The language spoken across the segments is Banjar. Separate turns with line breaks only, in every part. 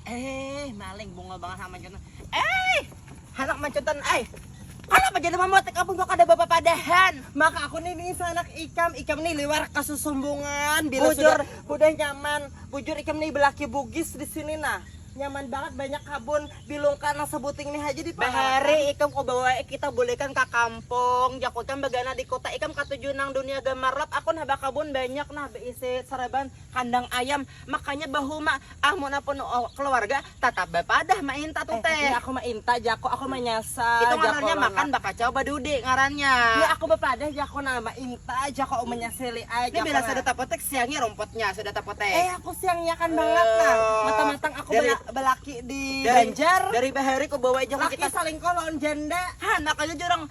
Eh, maling bungol banget sama mancutan. Eh, anak mancutan, eh. Kenapa jadi membuat kampung gua kada bapak padahan? Maka aku nih nih
anak ikam, ikam nih liwar kasusumbungan. Bila bujur. sudah udah
nyaman,
bujur ikam nih belaki bugis di sini nah nyaman banget banyak kabun bilung karena sebuting nih aja di bahari ikam kau
bawa kita bolehkan ke kampung jakutan bagana di kota ikam katujuh nang dunia gamarlap aku nah bakabun banyak nah beisi sereban kandang ayam makanya bahuma amun apun keluarga tatap bapadah mainta tu teh eh, aku mainta jako
aku manyasa itu ngarannya makan
bakacau badudi ngarannya ya aku bapadah
jako nah mainta jako manyasili ai jako ini bila sudah
tapotek siangi rompotnya sudah tapotek eh aku siangiakan uh,
banget nah eh, mata matang aku dari, balaki di dari, Banjar dari bahari ku bawa
aja laki kita salingko lawan janda
ha makanya jurang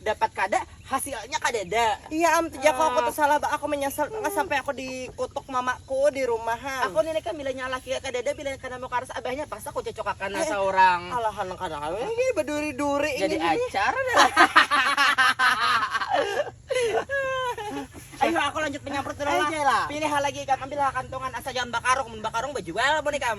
dapat kada hasilnya kadada iya am tuh aku
tuh salah ba aku menyesal banget sampai aku dikutuk mamaku di rumah ha aku ni leka bila nya laki
kadada bila kada mau karas abahnya pas aku cocok akan asa orang alahan kada kami
ini beduri duri jadi acar
ayu aku lanjut menyamprot dulu lah pilih lagi ikam ambil kantongan asa jangan bakarung mun bakarung bejual mun ikam.